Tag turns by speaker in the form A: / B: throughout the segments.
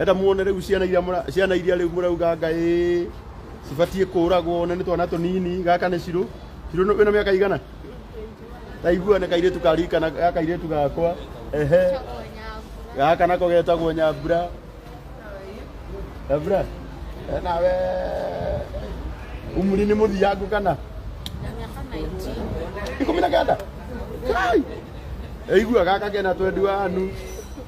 A: enda muone rĩu ciana iria mũra- ciana iria rĩu mũrauga ngaĩ cibatiĩ kũragwo na nĩ twana tũnini gaka nĩ cirũ cirũ nĩ- wĩna mĩaka igana taigua nĩ kairĩtu karikana ga kairĩtu gakwa ehe gaka nako getagwo nyambura nyambura Eh, nawe umuri nĩ mũthiangu kana ikũmi na kenda kai eigua gaka kena twendi wanu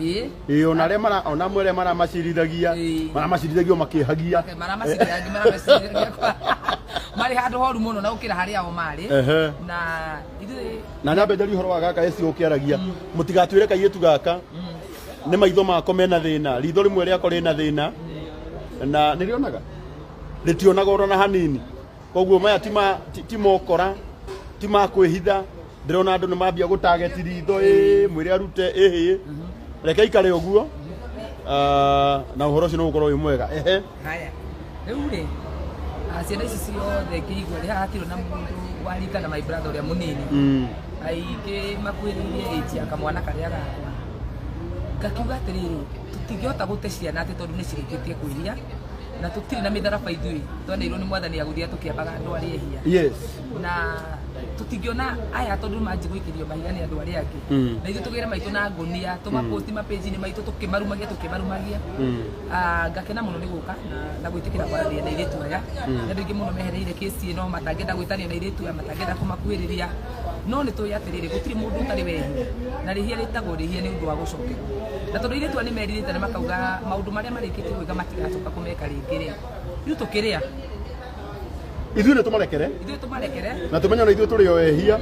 A: ĩ ĩ ona arĩa mara ona amwe arĩa maramacirithagia Ĩĩ. maramacirithagia makĩhagia Okay, maramacirĩrangi maramacirĩrangia kwa marĩ handũ horu mũno na gũkĩra harĩa o marĩ ehe na ithuĩ na nyambe njari horo wa gaka esi ũkĩaragia mũtigatwĩre kairĩtu gaka nĩ maitho mako mena thĩna ritho rĩmwe rĩako rĩna thĩna na nĩrĩonaga rĩtionaga oro na hanini koguo maya ti ma- ti- ti mokora ti ma kwĩhitha ndĩrona andũ nĩ mambia gũtageti ritho ĩ mwĩre arute ĩhĩ reke ikare ũguo Ah, na ũhoro ũcio nĩ ũgũkorwo wĩ mwega ehe haya rĩu rĩ ah, ciana ici ciothe ngĩigua rĩ haha hatirĩ na mũndũ warika na my brother ũrĩa mũnini Mm. aingĩ makuĩrĩirie ĩnji ya kamwana karĩa gakwa ngakiuga atĩrĩrĩ tũtingĩhota gũte ciana atĩ tondũ nĩ cirĩkĩtie kwĩhia na tũtirĩ na mĩtharaba ithuĩ tweneirwo nĩ mwathani ya gũthiaga tũkĩambaga andũ arĩa ehia yes na tũtingĩona aya tondũ manji gũikĩrio mahiga nĩ andũ arĩa angĩ Mm. na ithuĩ tũgĩre maitũ na ngonia tũmaposti mapeji-inĩ maitũ tũkĩmarumagia tũkĩmarumagia Mm. Ah, ngakena mũno nĩ gũka na- na gwĩtĩkĩra kwaranĩria na irĩtu aya na andũ aingĩ mũno mehereire kĩsi ĩno matangĩenda gwĩtanio na irĩtu aya matangĩenda kũmakuhĩrĩria no nĩ tũĩ atĩrĩrĩ gũtirĩ mũndũ ũtarĩ wehia na rĩhia rĩtagwo rĩhia nĩ ũndũ wa gũcokerwo na tondũ irĩtu nĩ merirĩte na makauga maũndũ marĩa marĩkĩtie gwĩka matigacoka kũmeka rĩngĩ rĩ rĩu tũkĩrĩa ithuĩ nĩ tũmarekere ithuĩ tũmarekere na tũmenye ona ithuĩ tũrĩ o ehia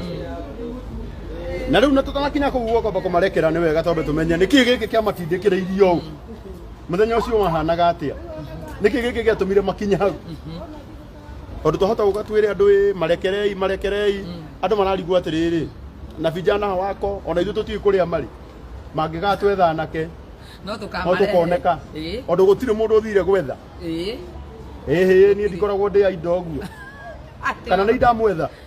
A: na rĩu na tũtanakinya kũu gũkomba kũmarekera nĩ wega tondũ tũmenye nĩ kĩĩ gĩkĩ kĩamatindĩkĩrĩ irio ũũ mũthenya ũcio wahanaga atĩa nĩ kĩĩ gĩkĩ gĩatũmire makinye hau tondu twahota guka twire andu ri marekerei marekerei andu mararigwo atiriri na vijana wako ona ithu tutiui kuria mari mangigatwetha anake no no tukamarete tukoneka ĩĩ ondu gutiri mundu uthire gwetha ĩĩ ĩhĩ nie ndikoragwo ndi aindo guo atĩ kana nĩ ndamwetha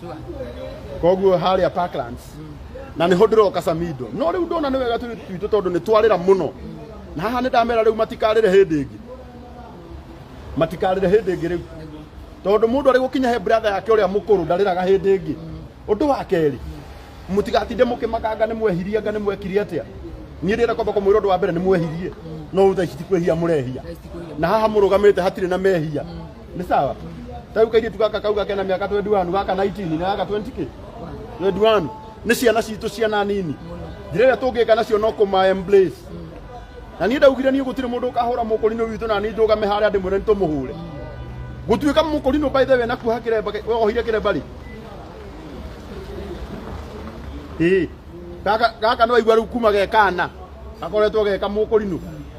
A: Sure. koguo harĩa parklands na nĩho ndĩroka samido no rĩu ndona nĩ wega tũirĩtu twitũ tondũ nĩ twarĩra mũno na haha nĩ ndamera rĩu matikarĩre hĩndĩ ĩngĩ matikarĩre hĩndĩ ĩngĩ rĩu tondũ mũndũ arĩ gũkinya he brother yake ũrĩa mũkũrũ ndarĩraga hĩndĩ ĩngĩ ũndũ wa kerĩ mũtigatinde mũkĩmakanga nĩ mwehirie anga nĩ mwekire atĩa niĩ ndĩrenda kwamba kũmwĩra ũndũ wa mbere nĩ mwehirie no thaa ici ti kwĩhia mũrehia na haha mũrũgamĩte hatirĩ na mehia ni sawa tau kairi tu gaka kau gakena miaka 21 gaka 19 na gaka 20k 21 ni ciana citũ ciana nini njĩra ĩrĩa tũngĩka nacio no kũma embrace na niĩ ndaugire niĩ gũtirĩ mũndũ ũkahũra mũkũrinũ witũ na niĩ ndũgame harĩa ndĩ mwĩre nĩtũmũhũre gũtuĩka mũkũrinũ by the way na kuoha kĩremba ohire kĩremba rĩ ĩĩ gaka gaka nĩ waigua rĩu kuma gekana gakoretwo geka mũkũrinũ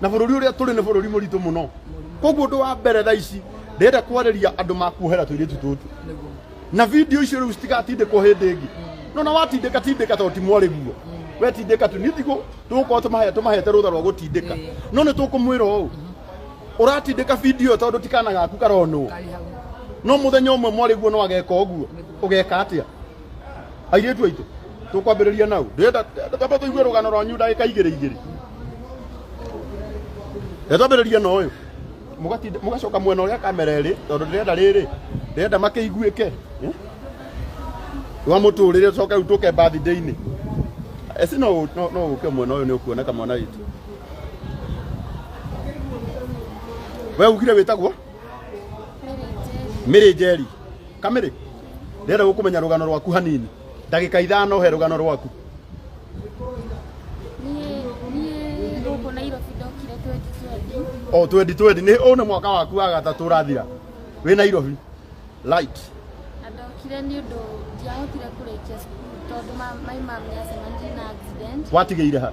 A: na bũrũri ũrĩa tũrĩ nĩ bũrũri mũritũ mũno koguo ũndũ wa mbere tha ici ndĩrenda kwarĩria andũ makuohera tũirĩtu tũtũ na video icio rĩu citigatindĩkwo hĩndĩ ĩngĩ no na watindĩka tindĩka to ti mwarĩguo wetindĩka tu nithigo tũgũkorwo tũmahe tũmahete rũtha rwa gũtindĩka no nĩ tũkũmwĩra ũũ ũratindĩka video tondũ tikana gaku karonwo no mũthenya ũmwe mwarĩguo no ageka ũguo ũgeka atĩa airĩtu aitũ tũkwambĩrĩria nau ndĩrenda twambe tũigue rũgano rwanyu ndagĩka igĩrĩ igĩrĩ rĩrĩa twambĩrĩria na ũyũ mũgatinda- mũgacoka mwena ũrĩa kamera ĩrĩ tondũ ndĩrenda rĩrĩ ndĩrenda makĩiguĩke eh? wa mũtũrĩre ũcoke rĩu tũke birthday-inĩ esi no ũ- no- no ũke mwena ũyũ nĩ ũkuona kamwana witũ we ugire wĩtagwo mĩrĩ njeri kamĩrĩ ndĩrenda gũkũmenya rũgano rwaku hanini ndagĩka ithano he rũgano rwaku niä gå kå nairobi ndokire twendi twendi o twendi twendi nĩ ũyũ nĩ mwaka waku wa gatatũ ũrathira wĩ nairobi light na ndokire nä å ndå ndiahotire kå rä kia cukuru tondå maimamä acemanirie na accident watigĩire ha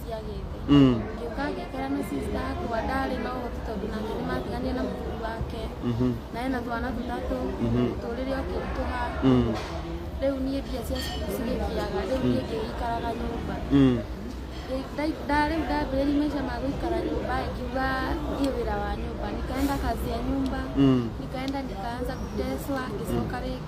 A: cia gĩthĩ Mm. ngĩũka ngĩikara na sister yakwa ndarĩ na ũhoti tondũ nake nĩ matigania na mũthuri wake Mhm. na ena twana tũtatũ Mhm. tũrĩrĩ okĩritũha Mm. rĩu niĩ mbia cia cukuru cigĩkiaga rĩu niĩ ngĩikaraga nyũmba Mm. Nda- nda- rĩu ndambĩrĩria maisha ma gũikara nyũmba ngiuga thiĩ wĩra wa nyũmba nikaenda kazi ya nyumba Mm. nikaenda nikaanza kuteswa ngicoka rĩngĩ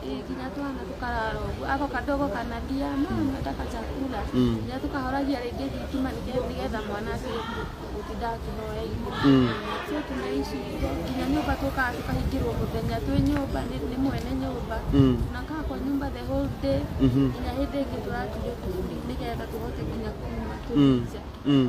A: Eh, kila tu anatukararo ako kadogo kanalia mama nataka chakula Mm. na tukahoragia rĩngĩ thitima nĩge- nĩgetha mwana atige gũtinda akĩhoya irio Mm. so tunaishi hivyo nginya nyũmba tũkaa tũkahingĩrwo mũthenya twĩ nyũmba nĩ nĩ mwene nyũmba Mm. tunakaa kwa nyũmba the whole day Mhm. nginya hĩndĩ ĩngĩ tũratire kũburi nĩgetha tũhote nginya kuma Mm. tũice Mm.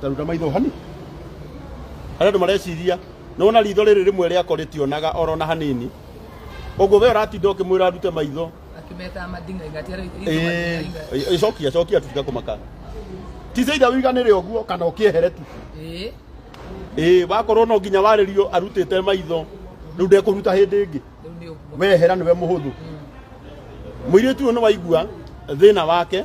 A: Taruta maitho hani. Harĩ andũ mareciria nĩ wona ritho rĩrĩ rĩmwe rĩako rĩtionaga oro na hanini. Ũguo we ũratinda ũkĩmwĩra arute maitho. Akĩmeta madinga igatiara Eh, eh, cokia cokia tu tiga kũmaka. Tize itha ũiganĩre ũguo kana ũkĩehere tu. Eh, Ĩĩ wakorwo no nginya warĩrio arutĩte maitho rĩu ndekũruta hĩndĩ ĩngĩ. rĩu nĩ ũguo. Wehera nĩwe mũhũthũ. Mũirĩtu ũyũ nĩ waigua thĩna wake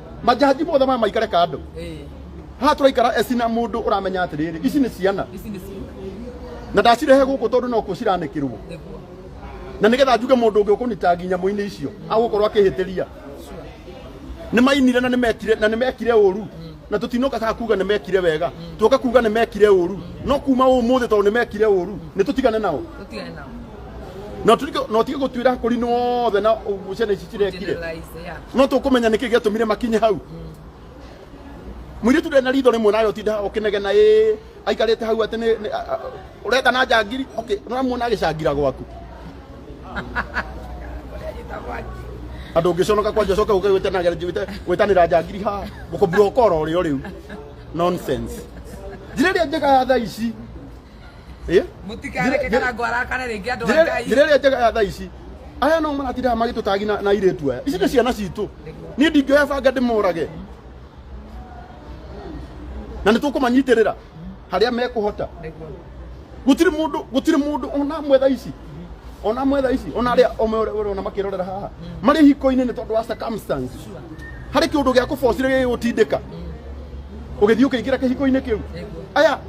A: majaji mothe maya maikare kando Eh, haha tũraikara eci na mũndũ ũramenya atĩrĩrĩ ici nĩ ciana ici nĩ ciana. na ndacirehe gũkũ tondũ no kuo ciranĩkĩrwo Nĩguo. na nĩgetha njuge mũndũ ũngĩ ũkũnyita nginya mũinĩ icio agũkorwo akĩhĩtĩria nĩ mainire na nĩ mekire na nĩ mekire ũru na tũtinoka kaa kuga nĩ mekire wega tuoka kuga nĩ mekire ũru no kuma ũmũthĩ tondũ nĩ mekire ũru nĩ tũtigane nao Tũtigane nao. no tũtige- no tige gũtuĩra akũri nothe na ũguo ciana ici cirekire Generalize, yeah. no tũkũmenya nĩkĩ gĩatũmire makinye hau mũirĩtu ndena ritho rĩmwe nayo tinda ũkĩnegena ĩ aikarĩte hau atĩ nĩ- nĩ- a- a- ũreka na njangiri okay ũramuona agĩcangira gwaku andå å ngä conoka kwanja coke å kä gwä tanä njangiri ha gå kå mbura å kora å rä o rä u njä rä ä rä a njega ya tha ici Eh? mutikareke kana ngwara kana rĩngĩ andũ a ngai njĩra ĩrĩa njega ya thaa ici aya no maratindaga magĩtũtagi na na irĩtu aya ici nĩ ciana citũ niĩ ndingĩoya banga ndĩmorage na nĩ tũkũmanyitĩrĩra harĩa mekũhota Nĩguo. gũtirĩ mũndũ gũtirĩ mũndũ ona amwe thaa ici ona amwe thaa ici ona arĩa omwe ũrĩa ũrona makĩrorera haha marĩ hiko-inĩ nĩ tondũ wa circumstance harĩ kĩũndũ gĩa kũbocire gĩgĩgũtindĩka ũgĩthiĩ ũkĩingĩra kĩhiko-inĩ kĩu aya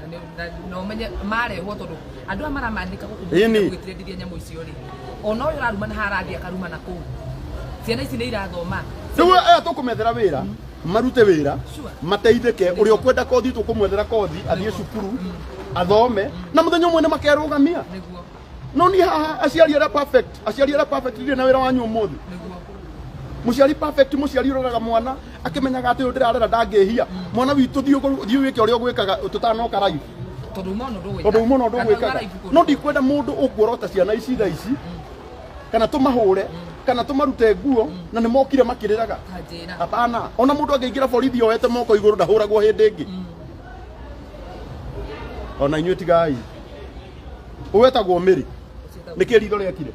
A: Na nĩ- na- na ũmenye marehwo tondũ andũ aya maramandĩka gũkũ Ĩni. gwĩtirendithia nyamũ icio rĩ ona ũyũ ũraruma na harathiĩ akaruma na kũu ciana ici nĩ irathoma rĩu aya tũkũmethera wĩra marute wĩra Sure. mateithĩke ũrĩa ũkwenda kothi tũkũmwethera kothi athiĩ cukuru athome na mũthenya ũmwe nĩ makerũgamia nĩguo no ni haha aciari ara perfect aciari ara perfect ndire na wira wanyu umuthi muciari perfect muciari uroraga mwana akimenyaga ati uyu ndirarera ndangihia mwana witũ thiĩ ũgũ- thiĩ wĩke ũrĩa ũgwĩkaga tũtanoka raibu tondå uma no ndå tondå uma no ndå gwä kaga no ndikwenda må ndå å kuorota ciana ici tha ici kana tå mahå re kana tå marute nguo na nä mokire makä rä raga kanjä ra hapana ona må ndå angä ingä ra borithi oete moko igå rå ndahå ragwo hä ndä ä ngä ona inyuä tigai uwetagwo miri niki ritho riekire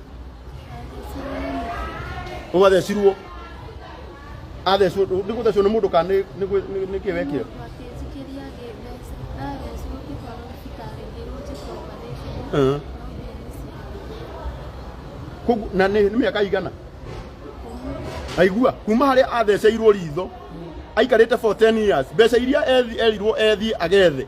A: ugathecirwo athecwo ni guthecwo ni mundu ka ni niki wekire Wakĩnjĩkĩria gĩthĩ, ndathecwo ngĩtwarwo thibitarĩ ngĩrwo njĩkwo operation. Eh. No ndĩathecirwo. Koguo- na nĩ nĩ mĩaka igana aigua kuma harĩa atheceirwo ritho aikarĩte for 10 years mbeca iria ethi- erirwo ethiĩ agethe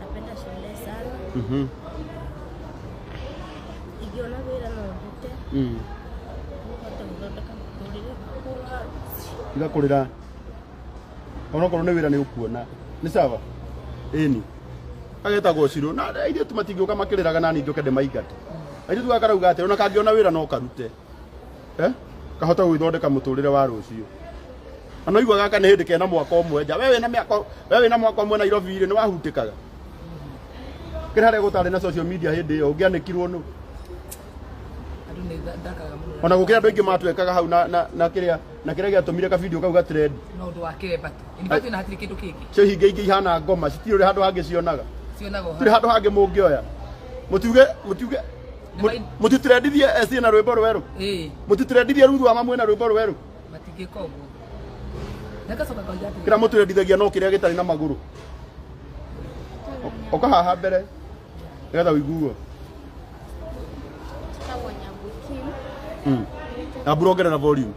A: Napenda shule sana. Mhm. Ikiona vile na uvute, Mm. nipate kuthondeka mũtũrĩre kũra. Tiga kũrĩra. Onokorwo nĩ wĩra nĩ ũkuona. Nĩ sawa? Ĩni. Agetagwo Ciro. Na airĩtu matingĩũka makĩrĩraga na ningĩ ũkende maingate. Airĩtu gakarauga atĩ ona kangĩona wĩra no karute. eh? kahota gwithondeka muturire wa ruciu ana igua gaka ni hindi kena mwaka umwe nja we wina miaka we wina mwaka umwe Nairobi ri ni wahutikaga kira re gutari na social media hindi yo ngianikirwo nu Andũ nĩ tha- ndakaga mũno. ona gukira andu aingi matwekaga hau na na na kiria na kiria giatumire ka video kau ga trend No ũndũ wa kĩremba tu. Ĩni bado ĩna hatirĩ kĩndũ kĩngĩ. cio hinge ingi ihana ngoma citirĩ handu hangi cionaga Cionaga o tiri handu hangi mungioya mutuge mutuge Nĩmai- mutitrendithie SC na rwimbo rweru ĩĩ mutitrendithie ruthu wa mamwe na rwimbo rweru matingĩka ũguo nagacoka kauga atĩ kira mutrendithagia no kiria gitari na maguru oka haha mbere nigetha uiguo Tagwo Nyambuki. mm. ambura ongerera volume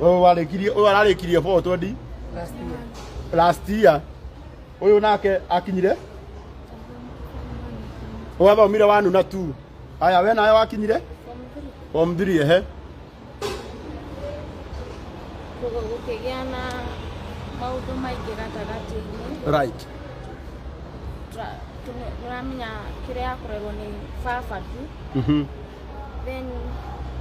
A: Ũyũ warĩkirie ũyũ ararĩkirie 420 last year. Ũyũ nake akinyire wathomire wanu na tu. Aya we nawe wakinyire form 3 ehe. gũkĩgĩa na maũndũ maingĩ gatagatĩ-inĩ Right. Tũra- tũme- tũramenya kĩrĩa yakorerwo nĩ baba tu Mhm. then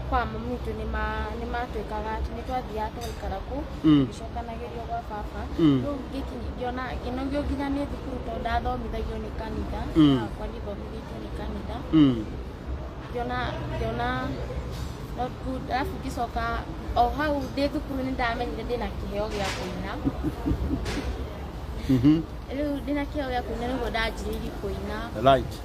A: kwa mami witũ nĩ ma- nĩ matwĩkaga atĩ nĩ twathiaga tũgaikara kũu Mm. gĩcokanagĩrio gwa baba Mm. rĩu ngĩkinya ngĩona ngĩnogio nginya nĩ thukuru tondũ ndathomithagio nĩ kanitha Mm. yakwa ndithomithĩtio nĩ kanitha Mm. ngĩona ngĩona not good alafu ngĩcoka o hau ndĩ thukuru nĩ ndamenyire ndĩna kĩheo gĩa kũina Mhm. rĩu ndĩna kĩheo gĩa kũina nĩguo ndanjĩrĩirie kũina Right.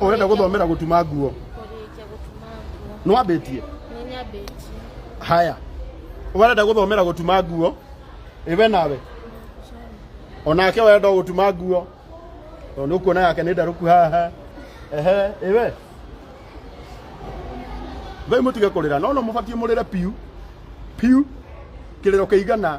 A: urenda guthomera gutuma nguo kũrĩkia gũtuma nguo nwambĩtie nĩ nyambĩtie haya warenda guthomera gutuma nguo iwe nawe onake wenda gutuma nguo tondũ nĩ ũkuona yake nĩ ndarũku haha ehe iwe thai mũtige kũrĩra no no mũbatiĩ mũrĩre piu piu kĩrĩro kĩigana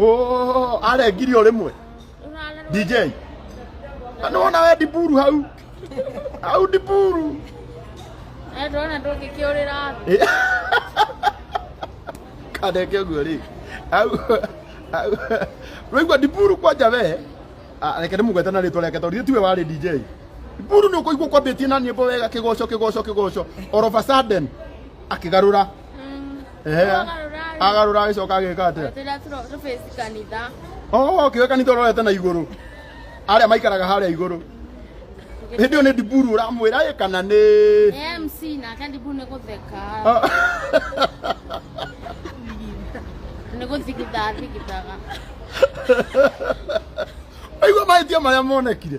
A: Oh, arengirio rimwe. DJ. Ano wona we diburu hau. Hau diburu. Eh, ndona ndũngĩkĩũrĩra thĩ. Kadeke guo ri. Hau. hau. Rwigwa diburu kwanja we. Ah, reke ndimugwete na ritwa reke tondu tiwe wari DJ. Diburu ni ukuigua kwambitie na nyimbo wega kigoco kigoco kigoco. All of a sudden akigarura Mm. Ehe. Wagarũra- Agarũra agĩcoka agĩka atĩa? Tũrĩa tũro- tũbĩci kanitha. Oh, okay, kanitha ũrorete na igũrũ. Arĩa maikaraga harĩa igũrũ. Hĩndĩ ĩyo nĩ ndiburu ũramwĩra ĩ kana nĩ Nĩ MC nake ndibu nĩ gũtheka. Ah. Nĩ gũthigitha thigithaga. Aigua mahĩtia marĩa monekire.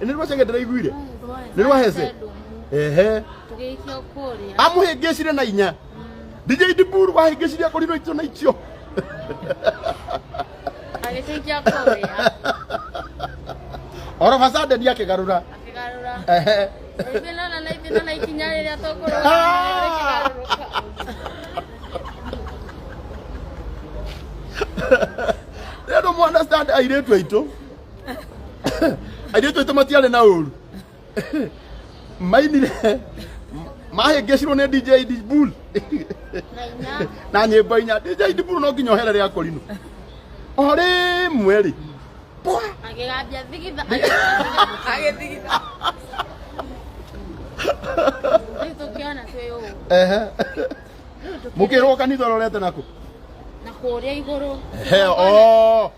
A: Ĩ, nĩ rwacenge ndĩraiguire nĩ rwahece ehe tũgĩikio kũrĩa amũhĩngĩcire na inya DJ Diburu wahĩngĩcire akũrinwo itio na itio agĩtũikia kũrĩa oroba sandeni akĩgarũra akĩgarũra ehe Naibina na naibina na ikinya rĩrĩa tũkũrũga Ah! rĩrĩa mwana stand airĩtu aitũ airĩtu aitũ matiarĩ na ũru mainire mahĩngĩcirwo nĩ DJ Dibul na nyĩmbo inya DJ Dibul no nginya ohere rĩa korino o rĩmwe rĩ pwa Agĩgambia thigitha. Agĩthigitha. Rĩu tũkĩona twĩ ũũ. ehe Rĩu tũkĩona mũkĩrwo kanitha ũrorete nakũ na kũrĩa igũrũ. He, oo.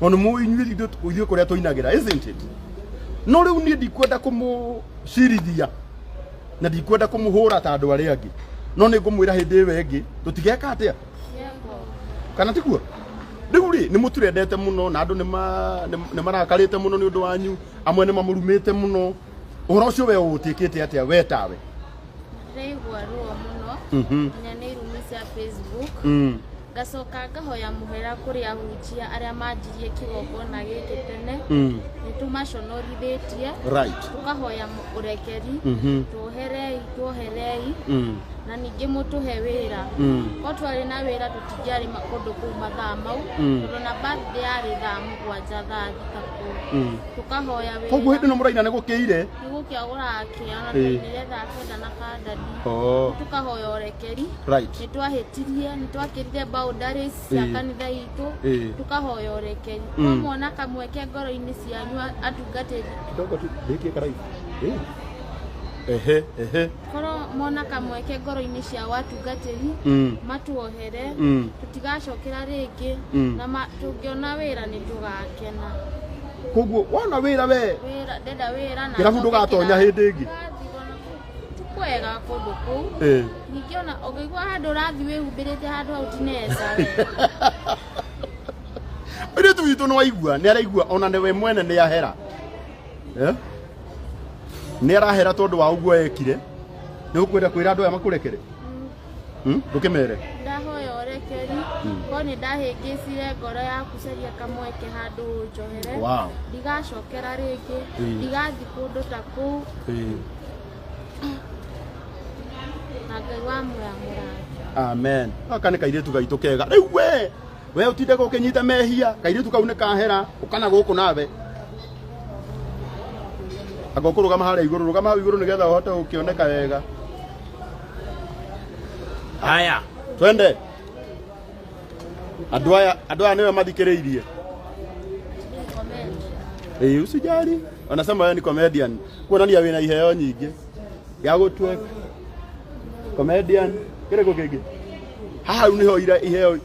A: Ona mu inyuĩ ithu- ithuĩ kũrĩa tũinagĩra isn't it no rĩu niĩ ndikwenda kũmũcirithia na ndikwenda kũmũhũra ta andũ arĩa angĩ no nĩ ngũmwĩra hĩndĩ ĩyo ĩngĩ tũtigeka atĩa kana tiguo rĩu rĩ nĩ mũturendete mũno na andũ nĩ ma- nĩ- nĩ marakarĩte mũno nĩ ũndũ wanyu amwe nĩ mamũrumĩte mũno uhoro ucio we utikite atia we tawe ndaigua ruo mũno Mhm. nginya nĩ irumi cia facebook Mm. ngacoka ngahoya mũhera kũrĩ ahunjia arĩa manjirie kĩgongona gĩkĩ tene Mm. nĩ tũmaconorithĩtie right tũkahoya mũ- ũrekeri Mhm. tuoherei tuoherei Mm. na ningĩ mũtũhe wĩra Mm. o twarĩ na wĩra tũtingĩarĩ ma- kũndũ kũu mathaa mau Mm. tondũ na birthday yarĩ thaa mũgwanja thaa thita kũu Mm. tũkahoya wĩra koguo hĩndĩ ĩno mũraina nĩ gũkĩire nĩ gũkĩagũra akĩa na Ĩĩ. tũinyire kenda na kandani oh. tũkahoya ũrekeri right nĩ twahĩtirie nĩ twakĩrire boundaries cia Ĩĩ. kanitha witũ Ĩĩ. tũkahoya ũrekeri Mm. no mwana kamweke ngoro-inĩ cianyu atungatĩri kidogo tu hiki karai eh ehe ehe korwo mona kamweke ngoro-inĩ ciao atungatĩri Mm. matuohere Mm. tũtigacokera rĩngĩ Mm. na ma- tũngĩona wĩra nĩ tũgakena koguo wona wĩra we wĩra ndenda wĩra na Kĩrabu njoke ndũgatonya kĩrabu. hĩndĩ ĩngĩ. Ũrathiĩ ona kũu. ti kwega kũndũ kũu Eh. ningĩ ona ũngĩigua handũ ũrathiĩ wĩhumbĩrĩte handũ hau ti nesa we Ũirĩtu witũ nĩ waigua nĩ araigua ona nĩ we mwene nĩ ahera eh? nä arahera tondå wa å guo ekire nä å kwenda kwä ra andå aya makå rekere hmm? ndå kä mere ndahoya ũrekeri Hmm. ko nĩ ndahĩngĩcire ngoro ya kucaria kamweke handũ ũnjohere Wow. ndigacokera rĩngĩ Hmm. ndigathi kũndũ ta kũu Eh, na ngai wa mũramũra amen aka nä kairä tu gaitå kega rä u we we utinde gukinyita mehia kairitu kau ni kahera ukana guku nawe anga ukurugama haria iguru rugama hau iguru nigetha uhote gukioneka wega haya twende andå aya andå aya nĩwe mathikĩrĩirie Ĩĩ, usijali wanasema wewe ni comedian kuonania wĩna iheo nyingĩ ya gũtweka comedian kĩrĩkũ kĩngĩ haha rĩu nĩho ira iheo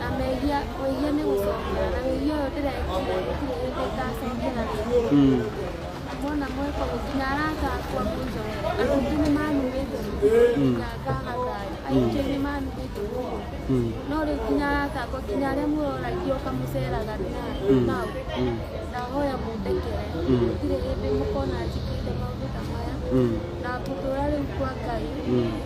A: Na mehia wĩhia nĩ gũcokera na wĩhia ũyũ ndĩrekire gũtirĩ hĩndĩ ngacokera rĩngĩ. Mm. Mwana mweka ũguo nginya arata akwa mũnjoe. Andũ aingĩ nĩ manumĩte Mm. na ngagathayo. Aingĩ nĩ manumĩte ũguo. Mm. No rĩu nginya arata akwa nginya arĩa mũroragio ũkamũceraga Mm. nao. Mm. Ndahoya mũndekere. Mm. Gũtirĩ hĩndĩ mũkona njĩkĩte maũndũ ta maya. Mm. Na ngũtũra rĩu kwa Ngai. Mm.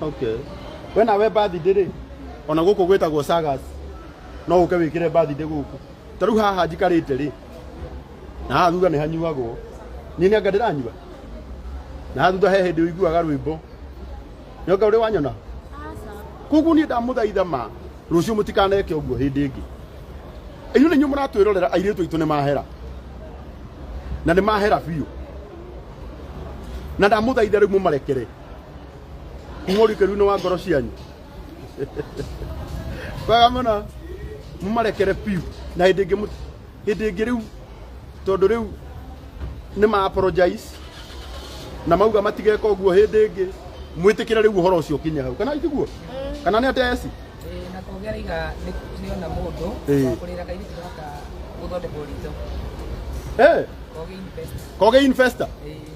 A: okay we nawe birthday rĩ ona gũkũ gwĩtagwo sagas no ũke wĩkĩre birthday gũkũ ta rĩu haha njikarĩte rĩ na haha thutha nĩ hanyuagwo niĩ nĩ anga ndĩranyua na haha thutha he hĩndĩ ũiguaga rwĩmbo nĩ anga ũrĩ wanyona koguo niĩ ndamũthaitha ma rũciũ mũtikaneke ũguo hĩndĩ ĩngĩ inyuĩ nĩ inyuĩ mũratwĩrorera airĩtu aitũ nĩ mahera na nĩ mahera biũ na ndamũthaitha rĩu mũmarekere Mũhũri kĩru-inĩ wa ngoro cianyu. Kwega mũno. Mũmarekere biũ na hĩndĩ ĩngĩ mũti- hĩndĩ ĩngĩ rĩu tondũ rĩu nĩ ma apologize na mauga matigeka ũguo hĩndĩ ĩngĩ mwĩtĩkĩre rĩu ũhoro ũcio ũkinye hau kana itiguo kana nĩ ateci na kũgĩa iga nĩona mũndũ Ĩĩ. wa kũrĩra kairĩtu gaka gũthondekwo ritho Eh, kogĩa invest koge investor Ĩĩ.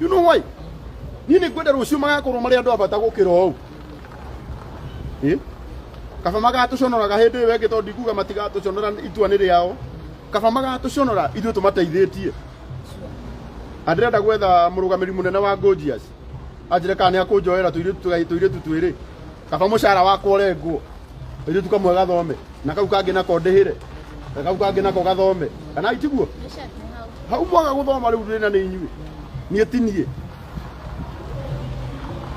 A: you know why niĩ nĩ ngwenda rũciũ magakorwo marĩ andũ abata gũkĩra ũũ Ĩ? kaba magatũconoraga hĩndĩ ĩyo ĩngĩ tondũ ndikuga matigatũconora itua nĩ rĩao kaba magatũconora ithuĩ tũmateithĩtie na ndĩrenda gwetha mũrũgamĩri mũnene wa Gojiyas anjĩre kana nĩ akũnjoera tũirĩtu tũgai- tũirĩtu twĩrĩ kaba mucara wakwa urengwo iritu kamwe gathome na kau kangi nako ndihire na kau kangi nako gathome kana itiguo hau mwaga guthoma riu ndina ni inyui nie tinie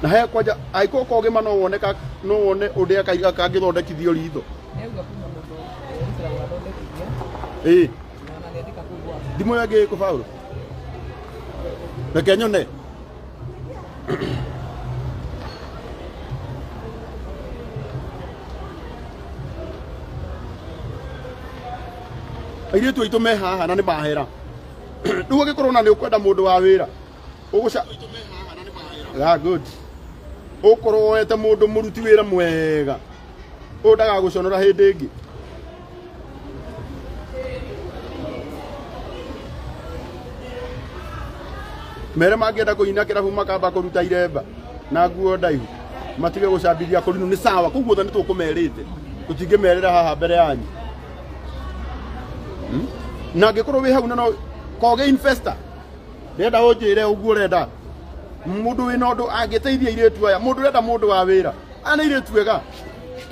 A: na he kwanja aiko ko gima no wone ka no wone uria kaiga kangithondekithio ritho eh Dimo ya gay ko fawru. Da kenyon ne. airĩtu aitũ me haha na nĩ mahera rĩu ũngĩkorwo na nĩ ũkwenda mũndũ wa wĩra ũgũca yeah, good ũkorwo woete mũndũ mũruti wĩra mwega ũyũ ndagagũconora hĩndĩ ĩngĩ mere mangĩenda kũina kĩrabu makamba kũruta iremba na nguo ndaihu matige gũcambithia kũrinu nĩ sawa kũu guothe nĩ tũkũmerĩte tũtingĩmerĩra haha mbere yanyu Hmm? na angĩkorwo wĩ hau na no koge investor ndĩrenda ũnjĩre ũguo ũrenda mũndũ wĩna ũndũ angĩteithia irĩtu aya mũndũ ũrenda mũndũ wa wĩra ana irĩtu ega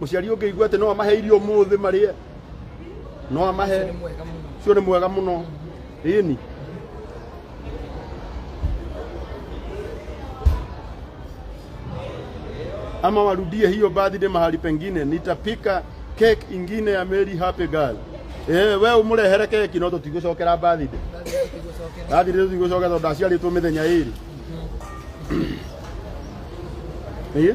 A: Mũciari ũngĩigua atĩ no amahe irio ũmũthĩ marĩe, no amahe, ũcio nĩ mwega mũno. Ĩni. ama warudie hiyo birthday mahali pengine, nitapika cake ingine ya Mary Happy Girl. Eh, we umurehere keki no tutigũcokera birthday. Birthday tutigũcokera tondũ ndaciarĩtwo mĩthenya ĩrĩ. Ĩĩ.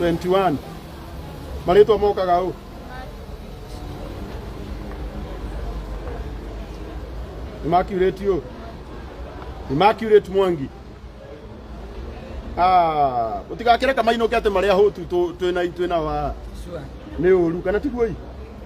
A: 21 marĩtwa mokaga ũ Immaculate ũ Immaculate Mwangi Ah, utigakire kamainukete maria hutu tu twina twina wa Sure. ni uru kana tiguoi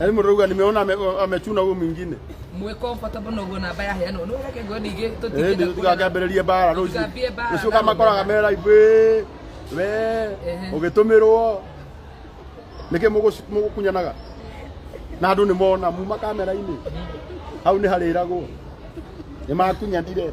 A: Yaani mrauga nimeona ame- amechuna huyu mwingine. mwä comfortable na guo namba ya heano nä reke ngo ningä tå Eh, ndio tukakambĩrĩrie bara rũciũ. Tukambie bara, Rũciũ kama bara. koraga mera ibĩ. We, Ehe. ũgĩtũmĩrwo. Nĩkĩ mũgũ- mũgũkunyanaga? Na andũ nĩ mona muma kamera-inĩ. Hau nĩ harĩragwo. Nĩ makunyanire.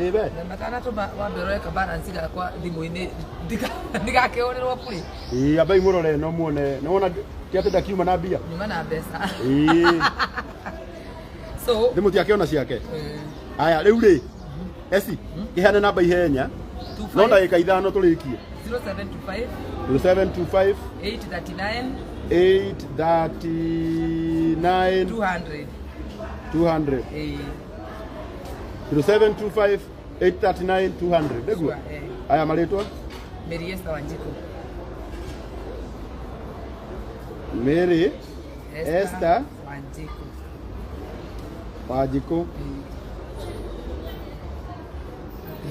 A: Ebe. Na matanatũma wamberwo eka balance gakwa thimũ-inĩ ndika- ndigakĩhũrĩrwo bure Ĩĩ ambai mũrore no muone. Nĩ wona kĩatĩ ndakiuma na mbia. nyuma na mbeca Ĩĩ. so Thimũ tiakĩona ciake. eh, Aya rĩu rĩ. Esi. Kĩhane namba ihenya. two No five- ndagĩka ithano tũrĩkie. 0725 0725 839 839 200 200. eh, 0725 839 200 nĩguo Eh, aya marĩtwa Mary Esther Wanjiku. Mary Esther. Wanjiku. Wanjikũ Mm.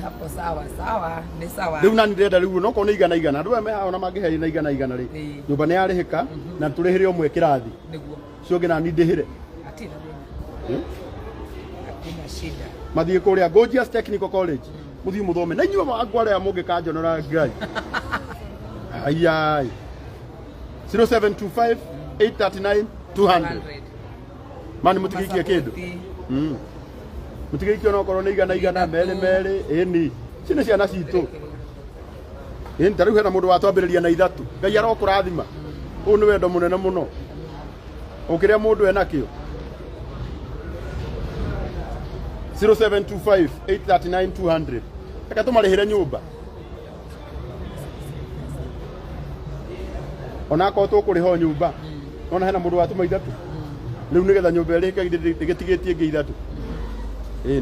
A: Hapo sawa sawa, ni sawa. rĩu nani ndĩrenda rĩu no korwo nĩ igana igana andũ aya mehaona mangĩheana igana igana rĩ Ĩĩ. nyũmba nĩ yarĩhĩka na tũrĩhĩre ũmwe kĩrathi Niguo. ũcio ũngĩ nani ndĩhĩre Hatirĩ thĩna. Hmm? Hakuna shida. mathiĩ kũrĩa Gorgeous Technical College mũthiĩ mũthome na inyuĩ andũ arĩa mũngĩkanjonora ngai ayai 0725 839 200 mani mũtigĩikie kĩndũ Mm. mũtigĩikie onakorwo nĩ igana igana merĩ merĩ ĩni ici nĩ ciana citũ Ĩĩ ta rĩu hena mũndũ watwambĩrĩria na ithatũ. Ngai arokũrathima. Ũyũ nĩ wendo mũnene mũno. Ũkĩrĩa mũndũ enakĩo. 0725 839 200. Reke tũmarĩhĩre nyũmba. Ona akorwo tũkũrĩha nyũmba. Ona hena mũndũ watuma ithatũ. Rĩu nĩgetha nyũmba ĩrĩhĩke ĩgĩtigĩtie ĩngĩ ithatũ. Ĩĩ.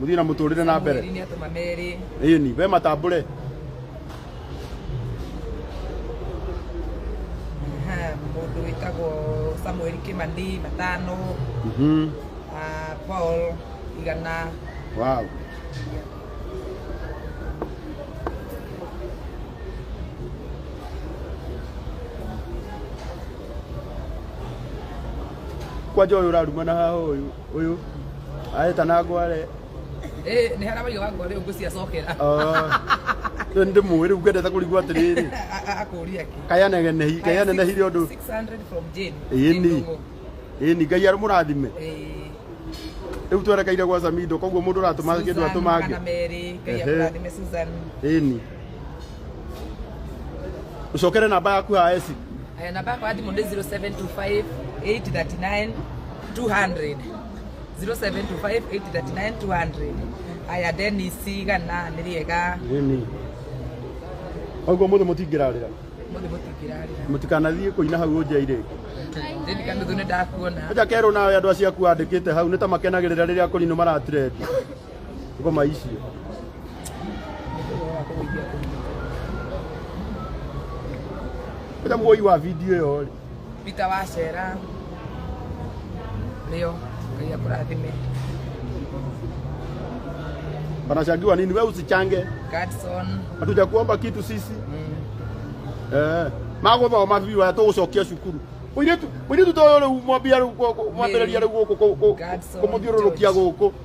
A: muthii na muturire na mbere Mwĩri nĩatũma merĩ ini we matambure Ha, mũndũ wĩtagwo samueli kimani matano Mhm. ah, paul igana wow kwanja uyu uraruma na haha uyu Uyu aeta na ngware. Eh, ni hara wayo wangu riu ngucia cokera. Ah. Riu ndi muwi riu ngwendete kurigwa atiriri. Akuria ki. Kaya negene hi, kaya nene hi rindu. 600 from Jane. Ini. Ini ngai ari murathime. Eh. Riu twerekeire gwa Samido koguo mundu uratuma kindu atumange. Kana meri, ngai akurathime Susan. Ini. ucokere namba yaku ya esi Eh, namba yakwa ya thimũ nĩ 0725 839 200 0725 839 200 aya denis igana nĩ rĩega Ĩni. Oguo mũthĩ mũtingĩrarĩra. mũthĩ mũtingĩrarĩra Mũtikanathiĩ kũina hau nja irĩ. ndĩni kanuthu nĩ ndakuona Aja kerwo nawe andũ acio aku andĩkĩte hau nĩ ta makenagĩrĩra rĩrĩa akũrinũ maratirendi. ngoma ici ĩta muoi wa video ĩyo rĩ Peter wacera rĩo ngai akũrathime wanachangiwa nini we usichange Gadson hatuja kuomba kitu sisi mm. eh magothoma biu aya tũgũcokia cukuru mũirĩtu mũirĩtu toyo rĩu mwambia rĩu mwambĩrĩria rĩu gũkũ Godson kũmũthiũrũrũkia George. gũkũ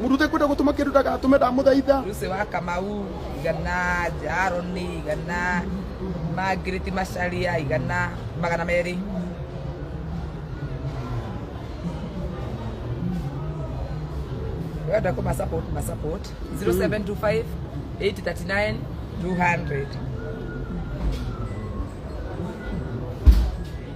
A: Mũndũ ũtekwenda gũtũma kĩndũ ndagatũme ndamũthaitha. Lucy wa Kamau igana, Jaroni igana, Margaret Macharia igana, magana merĩ. Wenda kuma support ma support 0725 839 200.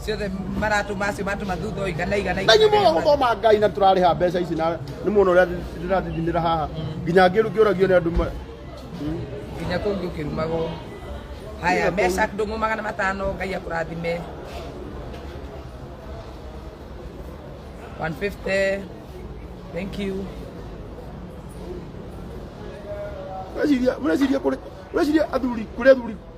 A: ciothe maratuma acio matuma thutha ũyũ igana igana na nyumo igana. gũthoma ngai na tũrarĩha mbeca ici na nĩ muona ũrĩa ndĩrathithimĩra haha nginya ngĩru ngĩũragio nĩ andũ ma- nginya kũu ũngĩ ũkĩrumagwo haya meca ndũng'ũ magana matano ngai akũrathime 150 thank you Mureciria- mureciria kũrĩ- mureciria athuri kũrĩ athuri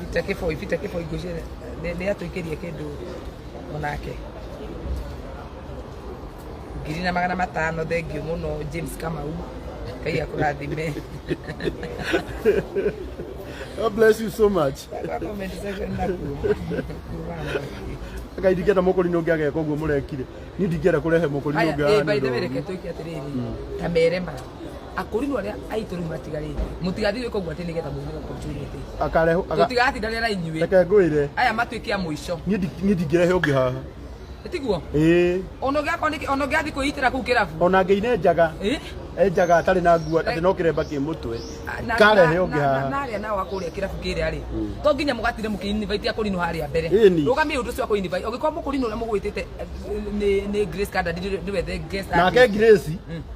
A: Peter Kiboi, Peter Kiboi ngũcie nĩ atũikĩrie kĩndũ onake ngiri na magana matano thengiũ mũno James Kamau Ngai akũrathime God bless you so much. comment section nakuo Ngai ndingĩenda mũkũri nĩ ũngĩ ageka ũguo mũrekire. Niĩ ndingĩenda kũrehe mũkũri nĩ ũngĩ Haya, eh, by the way, reke twĩke atĩrĩrĩ ta merema akũri no arĩa aitũ rĩu matigarĩte mũtigathiĩ gwĩka ũguo atĩ nĩgetha mũthire opportunity akarehe aga- tũtigatindanĩra na inyuĩ reke ngwĩre aya matuĩke a mũico niĩ ndi- niĩ ndingĩrehe ũngĩ haha tiguo ĩĩ ona ũngĩakorwo nĩ- ona ũngĩathiĩ kwĩitĩra kũu kĩrabu ona ngĩine njaga Eh? enjaga atarĩ na nguo atĩ no kĩremba kĩ mũtwe Na- karehe na- ũngĩ na- na- haha narĩa nao akũrĩa kĩrabu kĩrĩa rĩ to nginya mũgatire mũkĩinivaitia kũrinũ harĩa mbere Ĩni. rũgamia ũndũ ũcio wa kũinivai ũngĩkorwo mũkũrinũ ũrĩa mũgwĩtĩte eh, nĩ- nĩ grace kanda ndiwe the guest nake ngirĩci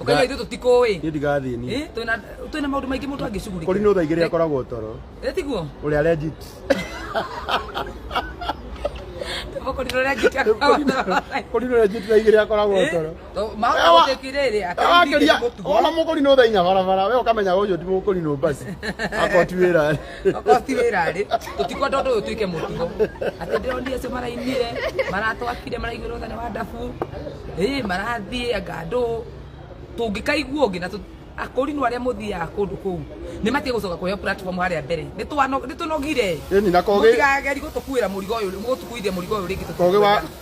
A: Ũkaga Nga- ithuĩ tũtikũĩ. niĩ ndigathiĩ niĩ Eh, twĩna twĩna maũndũ maingĩ mũndũ angĩcugurika. kũri no thaa igĩrĩ akoragwo toro Eh, tiguo? ũrĩa legit Tũboko ndĩrore angĩkĩa kũri no legit thaa igĩrĩ akoragwo toro Ewa- wakĩria ona mũkũri no thaa inya barabara we ũkamenya ũyũ ti mũkũri no basi akoti wĩra okorwo ti wĩra rĩ tũtikwenda ũndũ ũyũ tuĩke mũtugo atĩ ndĩronire acio marainire maratwakire maraigua rũthani wa ndabu ĩ marathiĩ anga andũ tũngĩkaigua ũngĩ na tũ- akũrinũ arĩa mũthiaga kũndũ kũu nĩ matige gũcoka kũheo platform harĩa mbere Nĩ twano- nĩ tũnogire Ĩni, na kogĩ- mũtigageri gũtũkuĩra mũrigo ũyũ mũgũtukuithia mũrigo ũyũ rĩngĩ Kogĩ wa- tũtikwenda.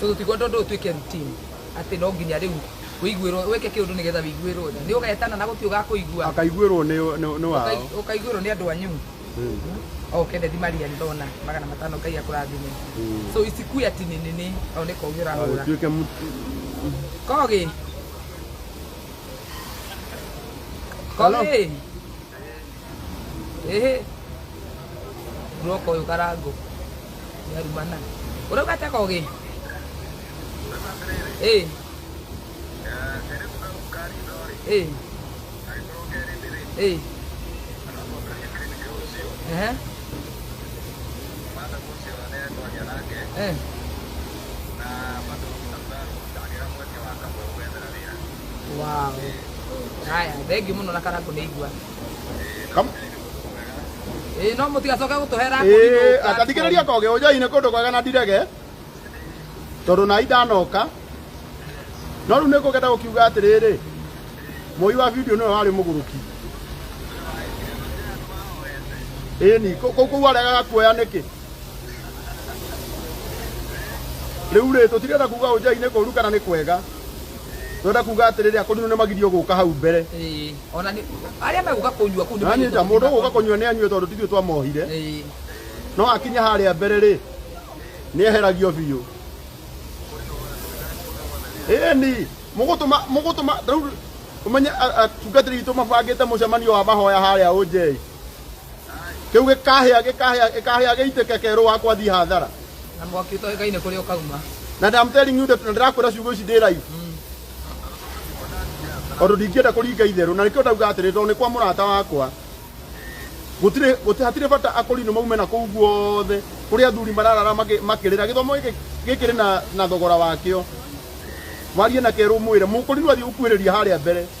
A: so tũtigwo tondũ ũtuĩke routine atĩ no nginya rĩu wĩiguĩrwo wĩke kĩũndũ nĩgetha wĩiguĩrwo tha nĩ ũgetana na gũtirĩ ũgakũigua akaiguĩrwo nĩ nĩ- nĩ wao Ũkai- ũkaiguĩrwo nĩ andũ anyu o kennedy maria ndona magana matano ngai akũrathime so isikue ati nĩ nene o nĩ kogi ũrahũra agĩtuĩke mũtu kogi Hello? kogi Ĩhĩ. Muoka ũyũ karango. Yarumana. Ũrauga atĩa kogĩ? Ĩ. Ĩ. Ĩ. Ehe. Eh. wow haya thengiå må no na karakå nä igua Kam- ä no må tigacoke gå tå hera Ĩĩ, atathikĩrĩria koge ũnjai nĩ kũndũ kwega na ndirege tondũ na ndanoka no rĩu nĩ kũgenda gũkiuga atĩrĩrĩ mũi wa video nĩwe warĩ mũgũrũki ĩni kũu kũu aregaga kuoya nĩkĩ rĩu rĩ tũtirenda kuga ũnjai nĩ kũru kana nĩ kwega Twenda kuga atĩrĩrĩ akũ nĩ magirio gũka hau mbere. Ĩĩ. Ona nĩ arĩa megũka kũnyua kũu nĩ Nani ta mũndũ gũka kũnyua nĩ anyue tondũ tithuĩ twamohire. Ĩĩ. No akinya harĩa mbere rĩ nĩ eheragio biũ. Ĩni mũgũtũma mũgũtũma rĩu ũmenye atungatĩri witũ mabangĩte mũcemanio wa mahoya harĩa ũnjei. Kĩu gĩkahĩa gĩkahĩa gĩkahĩa gĩitĩke kerũ wakwa thiĩ hathara. Na mwaki ũtoĩkaine kũrĩa ũkauma. Na I'm telling you that na ndĩrakwĩra ciugo ici ndĩ live. Tondũ ndingĩenda kũringa itherũ na nĩkĩo ndauga atĩrĩ tondũ nĩ kwa mũrata wakwa. Gũtirĩ gũtirĩ hatirĩ bata akorino maume na kũu guothe kũrĩa athuri mararara makĩ- makĩrĩra gĩthomo gĩkĩ gĩkĩrĩ na na thogora wakĩo. Warie na kerũ mwĩre mũkorino athiĩ gũkuhĩrĩria harĩa mbere.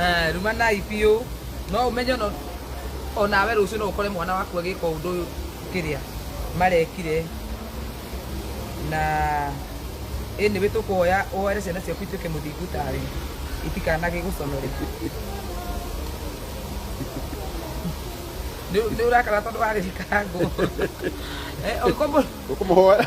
A: Eh, rumanai biũ no ũmenye no onawe rũciũ no ũkore mwana waku agĩka ũndũ ũyũ kĩrĩa marekire na ĩnĩ wĩ tũkũhoya ũhoere ciana ciaku ituĩke mũthingu tawe itikanage gũconore nĩ ũrakara tondũ wagĩkarangwo ũkũmũhoera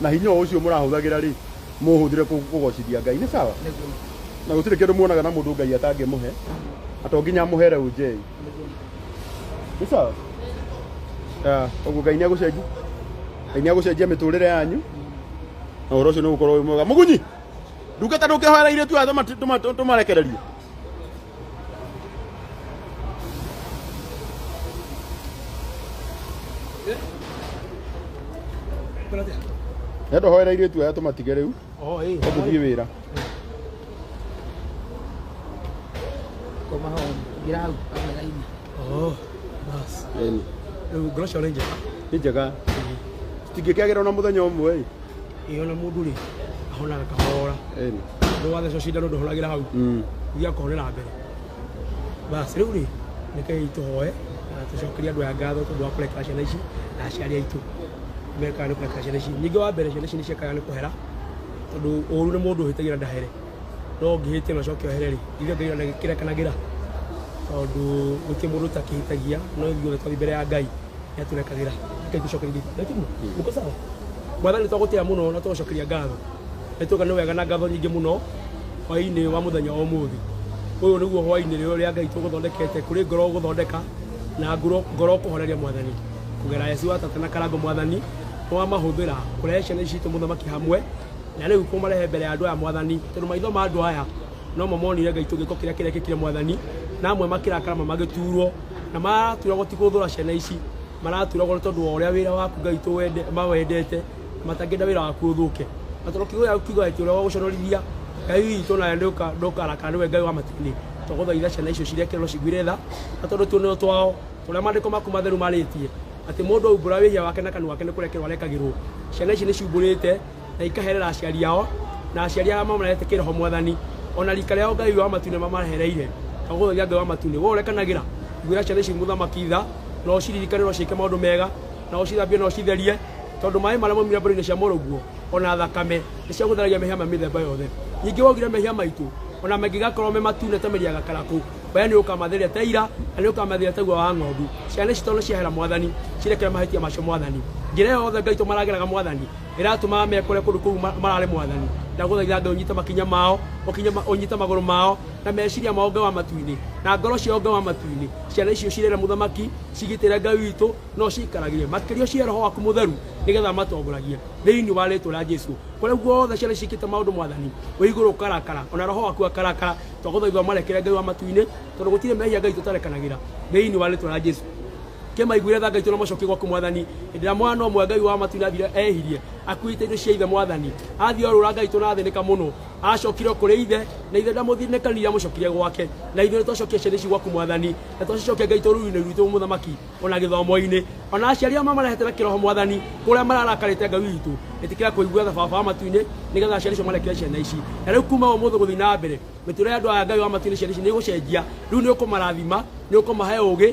A: na hinya o ũcio mũrahũthagĩra rĩ mũũhũthĩre kũ- kũgocithia ngai nĩ sawa Nĩguo. na gũtirĩ kĩndũ muonaga na mũndũ ngai atangĩmũhe na to nginya amũhere ũnjei nĩ sawa Ah, ũguo ngai nĩ agũcenjia ngai nĩ agũcenjia mĩtũrĩre yanyu na ũhoro ũcio nĩ ũgũkorwo wĩ mwega mũgunyi ndungata ndũkĩhoera irĩtu aya tũma- tũma- tũmarekererie Endo hoera irio tu aya tumatige riu. Oh, eh. Tuthie wira. Koma hao. Gira hau. Oh. Bas. Rĩu ngoroco nĩ njega. Nĩ njega. Citingĩkĩagĩra ona mũthenya ũmwe ĩ. ĩyo na mũndũ rĩ ahonaga kahora Ĩni. nĩ wathecwo cindano ndũhonagĩra hau Mm. iria kũhonera mbere basi rĩu rĩ nĩkei tũhoe na tũcokerie andũ aya ngatho tondũ wa kũrekera ciana ici na aciari aitũ mekaga nĩ kũrekera ciana ici ningĩ wa mbere ciana ici nĩ ciekaga nĩ kũhera tondũ ũru nĩ mũndũ ũhĩtagia na ndahere no ũngĩhĩtia na ũcoke ohere rĩ ithe ngai na kĩrekanagĩra tondũ gũtirĩ mũndũ ũtakĩhĩtagia no ithuothe twathi mbere ya ngai yaturekagĩra nĩkaigucokeria ithiĩ na tiguo uko sawa mwathani twagũtĩa mũno na tũgũcokeria ngatho nĩ tũga nĩ wega na ngatho nyingĩ mũno hwaĩ-inĩ wa mũthenya wa ũmũthĩ ũyũ nĩguo hwaĩ-inĩ rĩo rĩa ngai tũgũthondekete kũrĩ ngoro gũthondeka na ngoro ngoro kũhoreria mwathani kũgera yesu wa tata na karango mwathani nĩwamahũthĩra kũrehe ciana ici citũ mũthamaki hamwe na rĩu kũmarehe mbere ya andũ aya mwathani tondũ maitho ma andũ aya No mamonire Ngai tũgĩko kĩrĩa kĩrekĩkire Mwathani, na amwe makĩrakara ma magĩtuurwo, na maraturagwo ti gũthũra ciana ici, maraturagwo nĩ tondũ wa ũrĩa wĩra waku Ngai tũwende mawendete, matangĩenda wĩra waku ũthũke. Na tondũ kiugo gĩaku kiugaga atĩ ũrĩa wagũconorithia Ngai witũ nawe ndũka- ndũkarakara nĩwe Ngai wa matu-inĩ, twagũthaitha ciana icio cirekererwo ciguĩre tha, na tondũ tuonereirwo twao, ta ũrĩa maandĩko maku matheru marĩtie, atĩ mũndũ aumbũra wĩhia wake na kanua gake nĩ kũrekerwo arekagĩrwo. Ciana ici nĩ ciumbũrĩte na ikaherera aciari ao na aciari arĩa mamarehete kĩroho mwathani ona rika rĩao ngai wa matu nĩmamahereire na gũtharia ngai wa matu nĩ we ũrekanagĩra ngwĩra ciana ici mũthamaki tha na ũciririkane na ũciĩke maũndũ mega na ũcithambie na ũcitherie tondũ maĩ marĩa maumire mbũrũ-inĩ cia mũrũguo ona thakame nĩ cia gũtheragia mehia ma mĩthemba yothe ningĩ waugire mehia maitũ ona mangĩgakorwo me matune ta mĩri ya gakarakũ we nĩ ũkamatheria ta ira na nĩ ũkamatheria ta gua wa ng'ondu ciana ici tondũ ciahera mwathani cirekere mahĩtia macio mwathani njĩra ĩyo yothe ngai tũmarageraga mwathani Ĩratũmaga mekore kũndũ kũu ma- mararĩ mwathani. Ndagũthaitha Ngai ũnyite makinya mao, ũkinye ma- ũnyite magũrũ mao, na meciria mao Ngai wa matu-inĩ, na ngoro ciao Ngai wa matu-inĩ. Ciana icio cirĩre mũthamaki, cigitĩre Ngai witũ, no ciikaragĩre. Makĩria ũcihe roho waku mũtheru, nĩgetha matongoragie thĩinĩ wa rĩtwa rĩa Jesu. Kũrĩa guothe ciana ici ciĩkĩte maũndũ mwathani, wĩ igũrũ ũkarakara, ona roho waku akarakara, twagũthaitha ũmarekere Ngai wa matu-inĩ, tondũ gũtirĩ mehia Ngai tũtarekanagĩra thĩinĩ wa rĩtwa rĩa Jesu. Kĩmaiguire tha ngaitwo na macokio gwaku mwathani hĩndĩ ĩrĩa mwana ũmwe ngai wa matu nathire ehirie akuĩte indo cia ithe mwathani athiĩ orũra ngaitwo na athĩnĩka mũno acokire kũrĩ ithe na ithe ndamũthirĩkanire amũcokire gwake na ithuĩ nĩtwacokia ciana ici gwaku mwathani na twacicokia ngaitwo ruru-inĩ rwitũ mũthamaki ona gĩthomo-inĩ ona aciari ao mamarehete na kĩroho mwathani kũrĩa mararakarĩte ngai witũ ĩtĩkĩra kũigua tha baba wa matu-inĩ nĩgetha aciari icio marekere ciana ici na rĩu kuma ũmũthĩ gũthiĩ na mbere mĩtũrĩre ya andũ aya ngai wa matu-inĩ ciana ici nĩ ĩgũcenjia rĩu nĩ ũkũmarathima nĩ ũkũmahe ũgĩ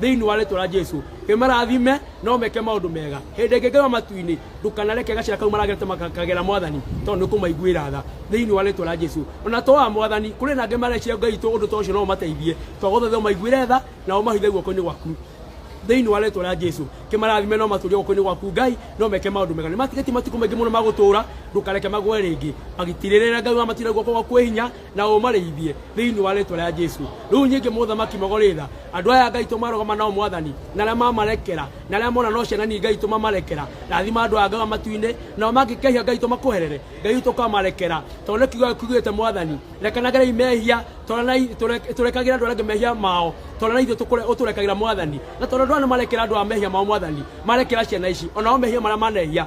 A: thĩinĩ wa rĩtwa rĩa jesu kĩmarathime na ũmeke maũndũ mega hĩndĩ ĩngĩ ngĩrwa matu-inĩ ndũkanareke gacĩra kau maragerete makagera mwathani tondũ nĩ kũmaiguĩra tha thĩinĩ wa rĩtwa rĩa jesu ona to wa mwathani kũrĩ na angĩ marecia ngai itũ ũndũ ta ũcio no ũmateithie twagũthaitha ũmaiguĩre tha na ũmahithe guoko-inĩ gwaku thĩinĩ wa rĩtwa rĩa jesu kĩmarathime no matũrie guoko-inĩ gwaku ngai no meke maũndũ mega nĩ matigĩtie matukũ maingĩ mũno magũtũũra ndũkareke magwe rĩngĩ magitirĩrĩre ngai wa matinda guoko gwaku kwĩ hinya na ũmarĩithie thĩinĩ wa rĩtwa rĩa jesu rĩu nyingĩ mũthamaki magorĩ tha andũ aya ngai tũmarũgama nao mwathani na arĩa mamarekera na arĩa mona no ciana ni ngai tũmamarekera rathima andũ aya ngaga matu-inĩ nao mangĩkehia ngai tũmakoherere ngai tũkamarekera tondũ nĩ kiugo kiugĩte mwathani rekanagerei mehia tondũ na i- tũre- tũrekagĩra andũ arĩa angĩ mehia mao tondũ na ithuĩ tũkũre- ũtũrekagĩra mwathani na tondũ andũ aya nĩ marekera andũ a mehia mao mwathani marekera ciana ici onao mehia marĩa manehia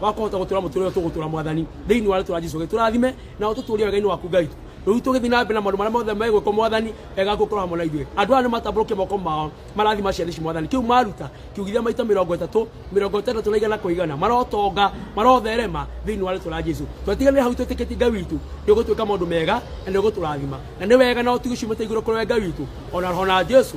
A: wa kũhota gũtũra mũtũrĩre ũyũ tũgũtũra mwathani thĩinĩ wa rĩtwa rĩa jesu tũrathime na ũtũtũrie wega-inĩ waku ngai rĩu tũgĩthiĩ na mbere na maũndũ marĩa mothe megwĩkwo mwathani wega gũkorwo hamwe na ithuĩ andũ aya nĩ matambũrũkie moko mao marathima ciana ici mwathani kĩu maruta kiugithia maita mĩrongo ĩtatũ mĩrongo ĩtandatũ na igana kwa igana marotonga marotherema thĩinĩ wa rĩtwa rĩa jesu twatiganĩre hau twĩtĩkĩtie ngai witũ nĩ ũgũtwĩka maũndũ mega na nĩ ũgũtũrathima na nĩ wega na ũtugi ciumĩte igũrũ kũrĩ we ngai witũ ona roho na jesu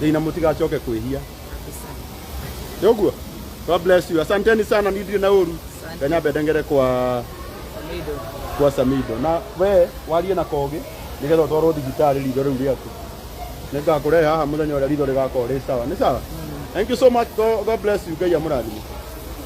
A: Ngai na mũtigacoke kwĩhia nĩ ũguo God bless you asanteni sana ni ndirĩ na ũru Ngai nyambe ndengere kwa kwa Samido na we warie na kogi nigetha ũtwarwo thibitarĩ ritho rĩu rĩaku nĩngakũrehe haha mũthenya ũrĩa ritho rĩgakorwo rĩ sawa nĩ sawa thank you so much God God bless you Ngai amũrathime